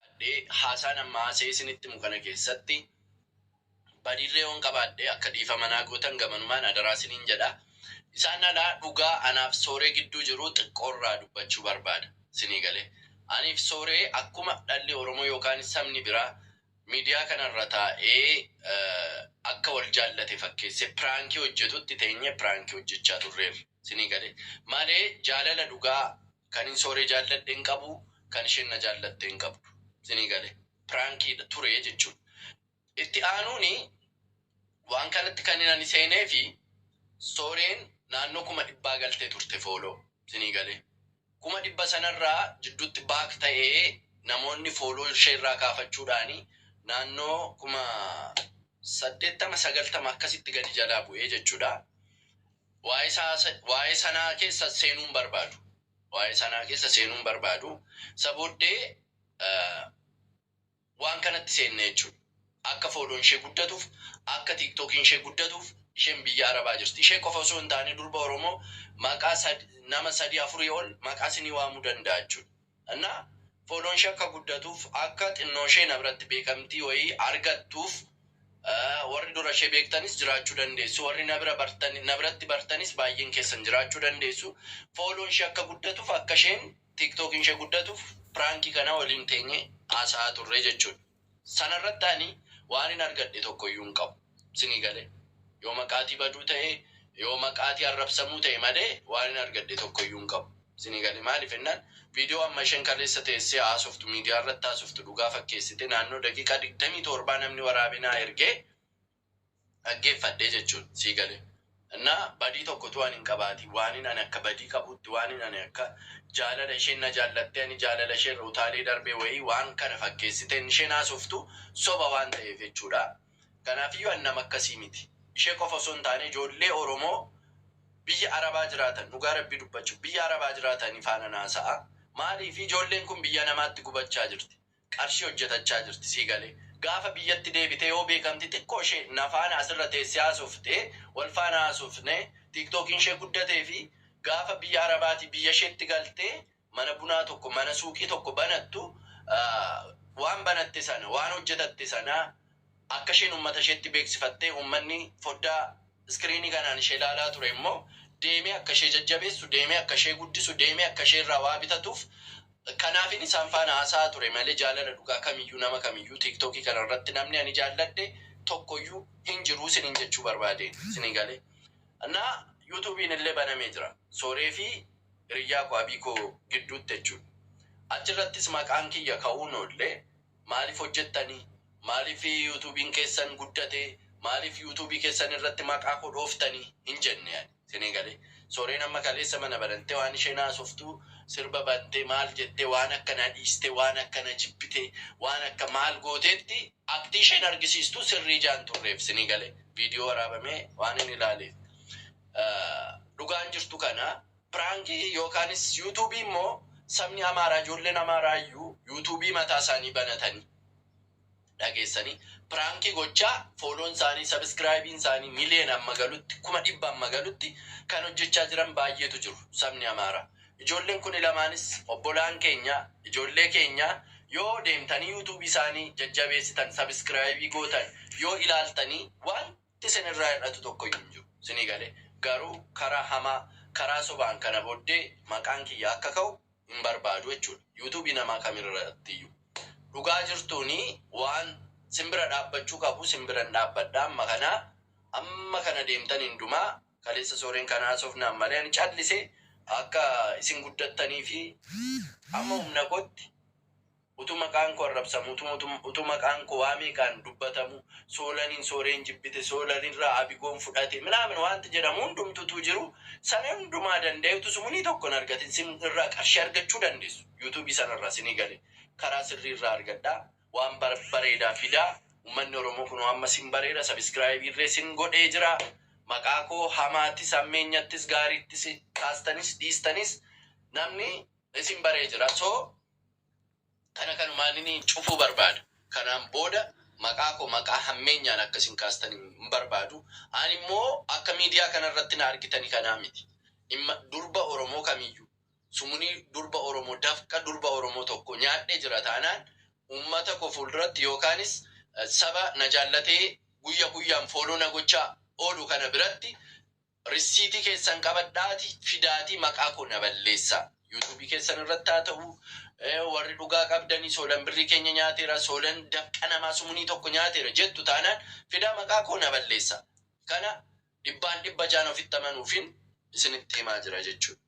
qabaadhee haasaan amma haasee isinitti himu kana keessatti badiirree yoon qabaadhee akka dhiifama naa gootan gamanumaan adaraa isiniin jedha. Isaan alaa dhugaa anaaf sooree gidduu jiru xiqqoorraa dubbachuu barbaada. Sinii galee. Aniif sooree akkuma dhalli Oromoo yookaan sabni biraa Midiyaa kana irra taa'ee akka wal jaallate fakkeessee piraankii hojjetutti teenyee piraankii hojjechaa turreerra. Sinii galee? Malee jaalala dhugaa kanin Sooree jaalladhe hin qabu, kan isheen na jaallatte hin qabdu. Sinii galee? Piraankiidha ture jechuudha. Itti aanuun waan kanatti kanin ani seeneefi Sooreen naannoo kuma dhibbaa galtee turte fooloo. Sinii galee? Kuma dhibba sanarraa jidduutti back ta'ee namoonni follow ishee irraa kaafachuudhaan naannoo kuma 80, 90 akkasitti gadi jalaa bu'ee jechuudha. Waa'ee isaa waa'ee sanaa keessa seenuu hin barbaadu. Waa'ee sanaa keessa seenuu hin barbaadu. Isa booddee waan kanatti seenne jechuudha. Akka follow'n ishee guddatuuf, akka tiktok'n ishee guddatuuf isheen biyya arabaa jirti. Ishee qofa osoo hin taane durba oromoo maqaa sad nama sadii afurii ol maqaa isinii waamuu danda'a jechuudha. Innaa follow'n ishee akka guddatuuf akka xinnoo ishee na biratti beekamtii wayii argattuuf warri dura ishee beektanis jiraachuu dandeessu warri na bira bartan na biratti bartanis baay'een keessan jiraachuu dandeessu follow'n ishee akka guddatuuf akka isheen Tiktookiin ishee guddatuuf piraankii kana waliin teenyee haasa'aa turre jechuudha. Sana irratti ani waanin argadhe tokko iyyuu hin qabu. Isinii galee? Yoo maqaatii baduu ta'e, yoo maqaatii arrabsamuu ta'e malee waanin argadhe tokko iyyuu hin qabu. Isinii galee? Maaliif jennaan viidiyoo amma isheen kaleessa teessee haasoftu miidiyaa irratti haasoftu dhugaa fakkeessitee naannoo daqiiqaa 27 namni waraabee naa ergee dhaggeeffadhe jechuun sii gale na badii tokko utuu ani hin qabaatiin waanin ani akka badii qabuutti waanin ani akka jaalala isheen na jaallattee ani jaalala ishee irra utaalee darbee wayii waan kana fakkeessiteen isheen haasoftu soba waan ta'eef jechuudha kanaafiyyuu ani nama akkasii miti ishee qofa osoo hin taane ijoollee oromoo biyya arabaa jiraatan dhugaa rabbii dubbachuuf biyya arabaa jiraatanii faanan haasa'a maaliif ijoolleen kun biyya namaatti gubachaa jirti qarshii hojjetachaa jirti sii galee gaafa biyyatti deebite yoo beekamti xiqqoo ishee na faana asirra teessee haasofte wal faana haasofne tiktokiin ishee guddatee fi gaafa biyya arabaatii biyya isheetti galtee mana bunaa tokko mana suuqii tokko banattu waan banatte sana waan hojjetatte sana akka isheen ummata isheetti beeksifattee ummanni foddaa Iskiriinii kanaan ishee ilaalaa ture immoo deemee akka ishee jajjabeessu, deemee akka ishee guddisu, deemee akka ishee irraa waa bitatuuf kanaafin isaan faana haasa'aa ture malee jaalala dhugaa kamiyyuu nama kamiyyuu TikTok kana irratti namni ani jaalladhe tokko iyyuu hin jiru isiniin jechuu barbaadeen. Isinii galee? Naa YouTube'n illee banamee jira. Sooree fi hiriyyaa koo Abiikoo gidduutti jechuudha. Achi irrattis maqaan kiyya ka'uun oolle. Maaliif hojjettani? Maaliif Youtubiin keessan guddate? Maaliif Youtubii keessan irratti maqaa koo dhooftani? Hin jenne ani. Sini galee? Soreen amma kaleessa mana banantee waan isheen haasoftu sirba bantee maal jettee waan akka na dhiistee waan akka na jibbitee waan akka maal gooteetti aktii isheen argisiistu sirrii ijaa hin turreef. Sini galee? Video waraabamee waanin ilaaleef. Dhugaan jirtu kana. Prank yookaanis YouTube immoo sabni Amaaraa ijoolleen Amaaraa iyyuu YouTube mataa isaanii banatanii dhageessanii prank gochaa fooloon isaanii subscribe'n isaanii million amma galutti kuma dhibba amma galutti kan hojjechaa jiran baay'eetu jiru sabni Amaaraa. Ijoolleen kuni lamaanis obbolaan keenya ijoollee keenya yoo deemtanii YouTube isaanii jajjabeessitan subscribe gootan yoo ilaaltanii waan Wanti isin irraa hir'atu tokko iyyuu hin jiru. Isinii galee? Garuu karaa hamaa, karaa sobaan kana booddee maqaan kiyya akka ka'u hin barbaadu jechuu dha. Youtube namaa kam irratti iyyuu. Dhugaa jirtuun waan isin bira dhaabbachuu qabu isin biran dhaabbadha amma kana amma kana deemtan hindumaa kaleessa Sooreen kana haasofnaan malee ani callise akka isin guddattanii fi amma humna kootti Utuu maqaan koo arrabsamu, utuu, utuu, utuu maqaan koo waa meeqaan dubbatamu, Soolaniin Sooreen jibbite, Soolanirraa Abigoon fudhate, minaamin waanti jedhamu hundumtuu utuu jiru, sana hundumaa danda'ee utuu sumunii tokko hin argatin sin irraa qarshii argachuu dandeessu. Youtube sana irraa sinii gale. Karaa sirrii irraa argadhaa. Waan bar, bareedaa fidaa. Ummanni Oromoo kunoo amma sin bareera, subscribe irree sin godhee jira. Maqaa koo hamaattis, hammeenyattis, gaariittis, kaastanis, dhiistanis namni isin baree jira. So. Kana kanumaanin cufuu barbaada. Kanaan booda maqaa koo maqaa hammeenyaan akka isin kaastan hin barbaadu. Ani immoo akka miidiyaa kana irratti na argitani kanaa miti. Dhimma durba Oromoo kamiyyuu, sumunii durba Oromoo, dafqa durba Oromoo tokkoo nyaadhee jira taanaan uummata koo fuulduratti yookaanis saba na jaallatee guyya guyyaan follow na gochaa oolu kana biratti Rissiitii keessan qabadhaatii fidaatii maqaa koo na balleessaa. Yuutuubii keessan irratti haa ta'u, warri dhugaa qabdanii Soolan birrii keenya nyaateera, Soolan dafqa namaa sumunii tokko nyaateera jettu taanaan fidaa maqaa koo na balleessaa. Kana dhibbaan dhibba jaan ofitti amanuufin isinitti himaa jira jechuudha.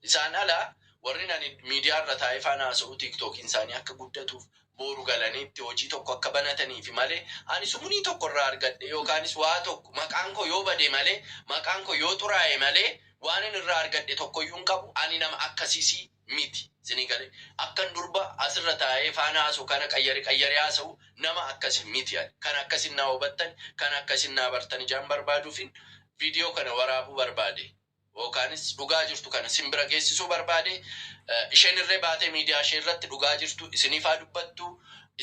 Isaan ala warrin ani miidiyaa irra taa'ee faan haasa'u tiiktookiin isaanii akka guddatuuf booru galanii itti hojii tokko akka banataniifi malee ani sumunii tokko irraa argadhee yookaanis waa tokko maqaan koo yoo bade malee maqaan koo yoo xuraa'e malee waanin irraa argadhe tokkoyyuu hin qabu ani nama akkasiisii miti sinii galee akkan durba asirra taa'ee faan haasa'u kana qayyare qayyaree haasa'u nama akkasi miti ani kan akkasin naa hubattan kan akkasin naa bartan ijaan barbaaduufin viidiyoo kana waraabuu barbaade. Bookaanis dhugaa jirtu kana isin bira geessisuu barbaade. Isheen irree baatee miidiyaa ishee irratti dhugaa jirtu isiniif haa dubbattu.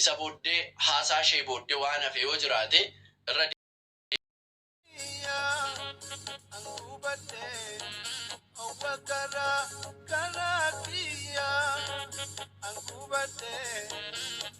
Isa booddee haasaa ishee booddee waan hafe yoo jiraate irra. Thank you.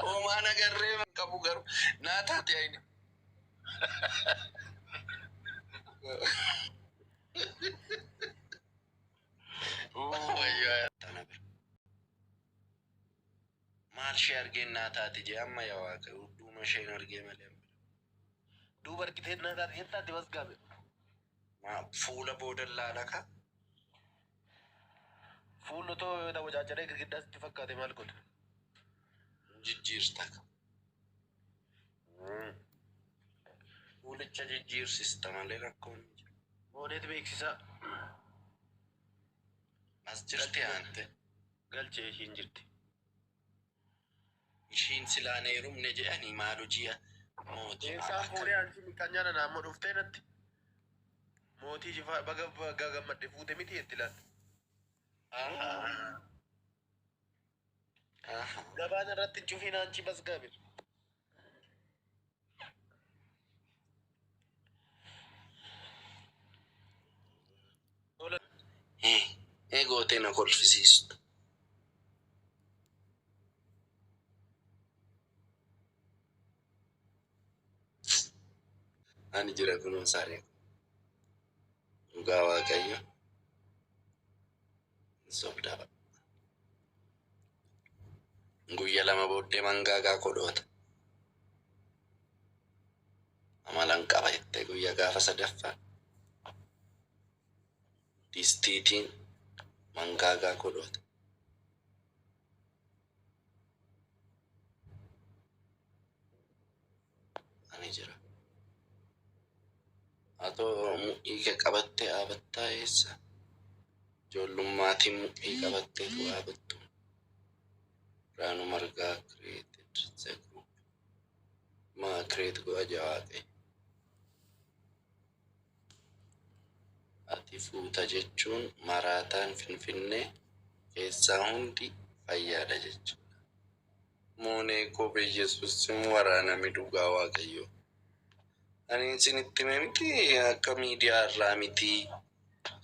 Hoomaa nagarree hin qabu garuu naa taate ayina. Wayyaa tana bira. Maal ishee argeen naa taate jee amma yaa waaqa duuma isheen argee malee. Duuba argitee naa taate jettaatti bas gaabe. Fuula boodan laala ka. Fuulli otoo yoo dawacaaccaree girgiddaa sitti fakkaate maal godha? Jijjiirta ka. Fuulicha jijjiirsista malee rakkoon hin jiru. Booneet beeksisaa. As jirti aante. Galchee ishiin jirti. Ishiin silaa hin heerumne jedhani maal hojii mootii Eessaa maal akka. fuudhee ansi miqqanyaa nana amma dhuftee natti mootii jifaa baga baga gammadde fuute miti jetti laal. Aha. Aha. Gabaan irratti hin cufiin anchi basgaabir. Eegootee na kolfisiistu. Ani jira kunuun saanii dhugaa waaqayyo. Sobdaa baqa. Guyya lama booddee mangaagaa koo dhoota. Amalan qaba jettee guyya gaafa sadaffaa distiitiin mangaagaa koo dhoota. Ani jira. Atoo mudhii kee qabattee dhaabattaa eessa? Ijoollummaatiin mudhii qabattee tu dhaabattu. Raanu Margaa created the group. Maa create godha jawaaqee. Ati fuuta jechuun maraataan Finfinnee keessaa hundi fayyaadha jechuudha. Moonee koo beyesus sin waraanami dhugaa waaqayyoo anin sinitti hime miti akka miidiyaa irraa miti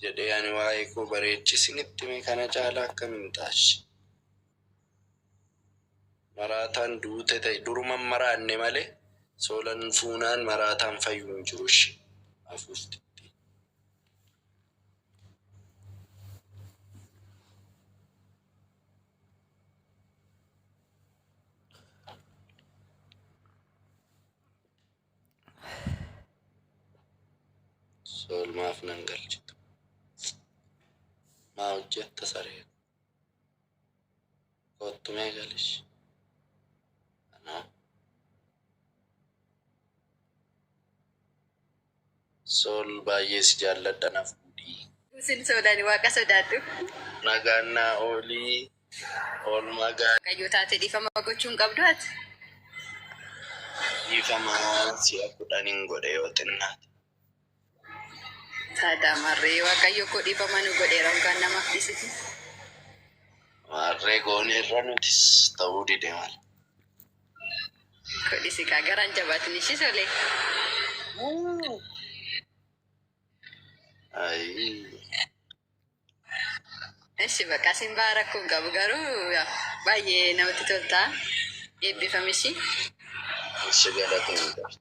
jedhee ani waa'ee koo bareeche sinitti hime kana caala akkam hin taashi maraataan duute ta'e duruman maraanne male soolan fuunaan maraataan fayyu hin jiru ishi afuufti Soolmaaf nan galchitu. Maa hojjetta saree koo. Kottu mee galish. Anaa. Sol baay'ee si jaalladha na fuudhii. Sin soodani waaqa sodaadhu. Nagaan naa oolii oolmaa gaarii. Waaqayyoo taate dhiifama gochuu hin qabdu ati. Dhiifama si'a kudhanin godhe yoo xinnaate. Taadaa marree waaqayyoo koo dhiifama nu godheera hoggaan namaaf dhiisiti. Maarree gooneerra nutis ta'uu dide mala. Kodhisi kaa garaan jabaatin ishii solee. Ayii. Ishi bakka isin baa rakkoo hin qabu garuu yaa, baay'ee namatti toltaa. Eebbifam ishii. Ishi galatoomii.